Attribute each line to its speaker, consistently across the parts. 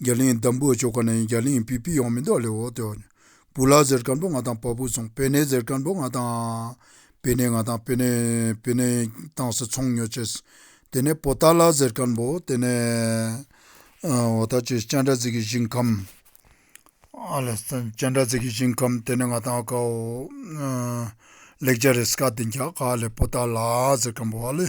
Speaker 1: རྒྱ་གླིང་འདམ་བུའི་ཕྱོགས་ཁ་ནས་རྒྱ་གླིང་བི་བི་ཡང་མི་འདོག་ལེ་འོག་ཏུ། བུ་ལ་ཟེར་སྐར་འབོ་ང་དང་བ་བུ་ཚོང་བེ་ནེ་ཟེར་སྐར་འབོ་ང་དང། བེ་ནེ་ང་དང་བེ་ནེ་བེ་ནེ་དང་སི་ཚོང་ཉོ་བྱེད། དེ་ནས་བོ་ཏཱ་ལ་ཟེར་སྐར་འབོ་དེ་ནས། བོ་ཏཱ་ཅི་སྤྱན་དྲ་ཚིག་གི་ཞིང་ཁམས། ཨ་ལས་སྤྱན་དྲ་ཚིག་གི་ཞིང་ཁམས་དེ་ནས་ང་དང་ཨ་ཀའོ། ལེགས་སྦྱར་རེས་སྐར་དེ་འགྱག་ག་ཨ་ལས་བོ་ཏཱ་ལ་ཟེར་སྐར་འབོ་ཨ་ལས།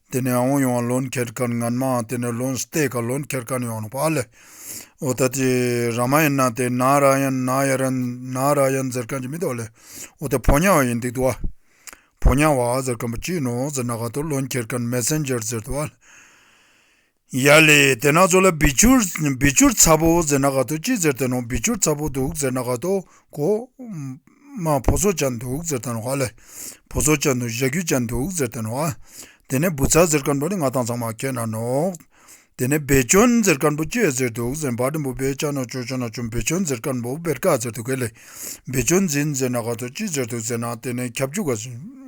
Speaker 1: དེ་ནས་ཨོང་ཡོང་བ་ལོན་ཁེར་ཁར་ངར་མའང་དེ་ནས་ལོན་སྟེ་ཁ་ལོན་ཁེར་ཁར་ཡོང་ནོ་བ་ལེ། ཨོ་ད་དེ་ར་མ་ཡིན་ན་དེ་ན་ར་ཡ་ན་ཡ་ར་ན་ར་ཡ་འཛེར་ཁན་གྱི་མི་དོ་ལེ། ཨོ་དེ་བོ་ཉ་བ་ཡིན་འདུག་དུ་བ། བོ་ཉ་བ་ཨ་ཟེར་ཁན་པོ་ཅིག་ནོ་ཟེར་ན་ག་དུ་ལོན་ཁེར་ཁར་མེ་སེན་ཇེར་ཟེར་དུ་བ་ལེ། ཡ་ལེ། དེ་ནག་ཚོ་ལ་བི་ཆུར་བི་ཆུར་ཚ་བོ་ཟེར་ན་ག་ཏོ་ཅི་ཟེར་ད་ནོ་བི་ཆུར་ཚ་བོ་འདུག་ཟེར་ན་ག་ཏོ་གོ། མ་བོ་ཚོ་བཅའ་འདུག་ཟེར་ད་ནོ་ཧ་ལེ། བོ་ཚོ་བཅའ་འདུག་གཞས་ཁྱུ་བཅའ་འདུག་ཟེར་ད་ནོ་ཨ། དེ་ནས་བུ་ཚ་ཟེར་དཀར་འབོ་ནི་ང་དང་ཚང་མ་ཁྱེད་ན་ནོག། དེ་ནས་བེ་ཅོན་ཟེར་དཀར་འབོ་སྐྱོད་ཟེར་འདུག་ཟེར་བ་དྲིན་པོ་བེ་ཅ་ནོ་ཅོ་ཅོ་ན་ཅོ་བེ་ཅོན་ཟེར་དཀར་འབོ་བེར་ཀ་ཟེར་འདུག་གལ་ལེ། བེ་ཅོན་འཛིན་ཟེར་ན་ག་ཏོ་ཅི་ཟེར་འདུག་ཟེར་ན་དེ་ནས་ཁྱབ་འཇུག་ག།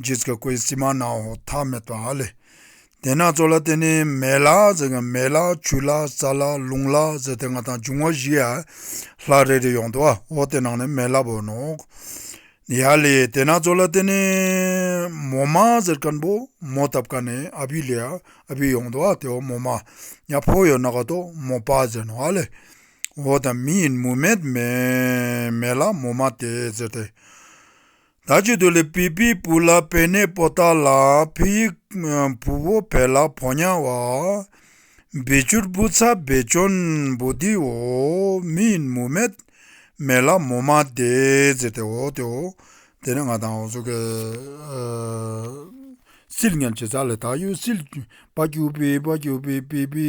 Speaker 1: རྗེས་ཀྱི་སྐུའི་སིལ་མ་ནག་འོག་ཐག་མེད་པ་ལས། དེ་སྣ་ཚོགས་ལ་བརྟེན་ནས་མེ་ལ་ཟེར་ཡང་མེ་ལ་ཆུ་ལ་རྩ་ལ་རླུང་ལ་ཟེར་ཏེ་ལྔ་དང་འབྱུང་བ་བཞི་ཡར་ལྷག་རེ་རེ་ཡོང་དུ་འོག་དེ་ནང་ནས་མེ་ལ་བོ་ནོ། ཡར་ལས་དེ་སྣ་ཚོགས་ལ་བརྟེན་ནས་མོ་མ་ཟེར་སྐམ་པོ་མོ་ཐབ་ཀ་ནས་ཨ་བྷི་ལས་ཨ་བྷི་ཡོང་དུ་དེ་འོག་མོ་མ་ཡར་ཕོ་ཡོ་ནག་ཏོ་མོ་པ་ཟེར་ནོ་ཨ་ལས་འོག་དང་མི་ཡིན་མུ་མེད་མེ་མེ་ལ་མོ་མ་དེ་ཟེར་ཏེ། ད་ཅི་ཐུ་ལི་བི་བི་བུ་ལ་བེ་ནེ་པོ་ཏ་ལ་བི་ཡི་བུ་བོ་བེ་ལ་བོ་ཉ་བ་བི་ཅུར་བུ་ཚ་བི་ཅོན་བུ་དི་བོ་མི་ཡིན་མུ་མེད་མེ་ལ་མུ་མ་དེ་ཛེ་དེ་བོ་དེ་བོ་དེ་ནི་ང་དང་འོ་ཟོ་ཀེ་སིལ་ཉ་ཇེ་ཚ་ལི་ད་ཡོད་སིལ་བ་ཀྱུ་བི་བ་ཀྱུ་བི་བི་བི་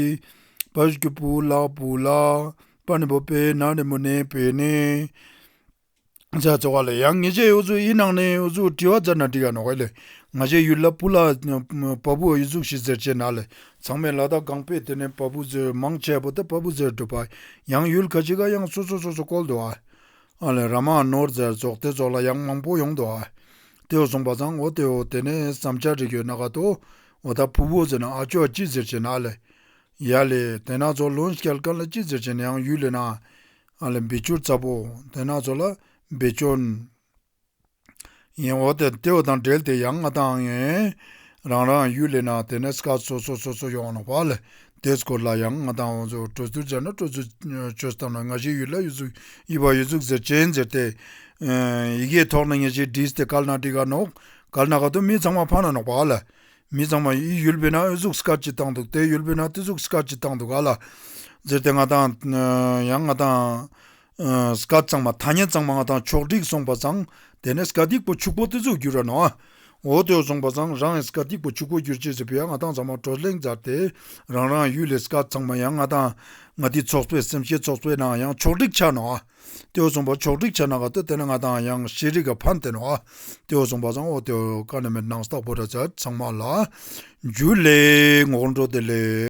Speaker 1: བ་ཀྱུ་བུ་ལ་བུ་ལ་བ་ནི་བོ་བེ་ན་རི་མུ་ནེ་བེ་ནེ། ཅག་བརྩེ་བ་ལ་ཡང་ངེས་བྱས་ཨུ་ཚུགས་ཨི་ནང་ནས་ཨུ་ཚུགས་དྲི་བ་རྩ་ན་དྲི་ཡ་ནོ་ཧོས་ལེ། ང་ཆེ་ཡུལ་ལ་བུ་ལ་བ་བུ་ཨི་ཚུགས་ཤི་ཟེར་བྱེད་ན་ལེ་ཚང་མས་ལ་དྭགས་གངས་པས་དེ་ནས་བ་བུ་ཟེར་མང་ཆེ་བ་ད་བ་བུ་ཟེར་འགྲོ་བ་ཡང་ཡུལ་ག་ཅི་ག་ཡང་སོ་སོ་སོ་སོ་བཀོལ་འདུག་ཨ་ལེ་ར་མ་ཨ་ནོར་ཟེར་རྫོགས་དེ་རྫོགས་ལ་ཡང་མང་པོ་ཡོང་འདུག་ཨ་དེ་འོ་སོང་བ་ཚང་འོ་དེ་འོ་དེ་ནས་བསམ་འཆར་རིགས་ཡོད་ན་ག་ཏོ་འོ་ད་བུ་བུ་ཟེར་ན་ཨ་ཅོ་ཨ་ཅི་ཟེར་བྱེད་ན་ལེ། ཡ་ལེ་དེ་ན་ཚོ་ལོན་སྐལ་དཀར་ལ་ཅི་ཟེར་བྱེད་ན་ཡང་ཡུལ་ལེ་ན་ཨ་ལ་འབི་ཅོར་ཙ་པོ་དེ་ནག་ཚོ་ལ་འབི་ཅོར། ཡིན་འོ་དེ་ལྟེ་བ་དང་འབྲེལ་དེ་ཡང་ང་དང་ངའི་རང་རང་གཡུ་ལེ་ན་དེ་ནས་སྐར་ཚོ་ཚོ་ཚོ་ཚོ་ཡོང་ན་བ་ལེ་དེ་སྐོར་ལ་ཡང་ང་དང་འོ་ཚོ་སྤྲོ་ཚུལ་སྦྱར་ན་སྤྲོ་ཚུལ་ཆོས་ཐམས་ན་ང་ཞིག་ཡུལ་ལ་ཡུལ་ཚུགས་ཡིད་བ་ཡུལ་ཚུགས་ཟེར་ཅན་ཟེར་ཏེ། ཡི་གེའི་ཐོག་ན་ངེས་ཤེས་བྲིས་ཏེ་དཀར་ནག་བྲིས་ག་ནོག་དཀར་ནག་ག་དུ་མི་ཚང་མ་ཕ་ན་ནོག་བ་ལེ་མི་ཚང་མ་ཡི་ཡུལ་བྷི་ན་ཨོས་ཟུག་སི་ཀར་གྱིས་བཏང་འདུག་དེ་ཡུལ་བྷི་ན་ཏི་ཟུག་སི་ཀར་གྱིས་བཏང་འདུག་ག་ལ། ཟེར་ཏེ་ང་དང། ཡང་ང་དང། སི་ཀར་ཚང་མ་ཐ་སྙད་ཚང་མ་ང་དང་ཕྱོགས་བསྒྲིགས་སོང་པ་ཚང་དེ་ནས་སི་ཀར་སྡིག་པོ་ཕྱུག་པོ་ཏི་ཟུག་གྱུར་ར་ནོ་ཨ། འོ་དོད་སོང་པ་ཚང་རང་ཡང་སི་ཀར་སྡིག་པོ་ཕྱུག་པོ་གྱུར་ཅིག་ཟེར་བུ་ཡང་ང་དང་ཚང་མ་གྲོ་གླེང་སྦྱར་ཏེ་རང་རང་ཡུལ་ལས་སི་ཀར་ཚང་མ་ཡང་ང་དང། ང་ཏི་ཚོགས་པའི་སེམས་ཤེས་ཚོགས་པའི་ནང་ཡང་ཕྱོགས་བསྒྲིགས་ཆགས་ནོ་ཨ། ཏེའོ་ཙོང་པ་ཕྱོགས་བསྒྲིགས་བྱ་ནང་ག་ཏོ་དེ་ནི་ང་དང་ཡང་ཤེས་རིག་གི་ཕ་མཐན་ནོ། ཏེའོ་ཙོང་པ་ཚང་ཨོ་ཏེའོ་ཀ་ནི་མེར་སྣང་སྟག་ཕོ་བྲ་བྱ་ཚང་མ་ལ། འཇུ་ལེའི་ངོགས་འགྲོ་དེ་ལས།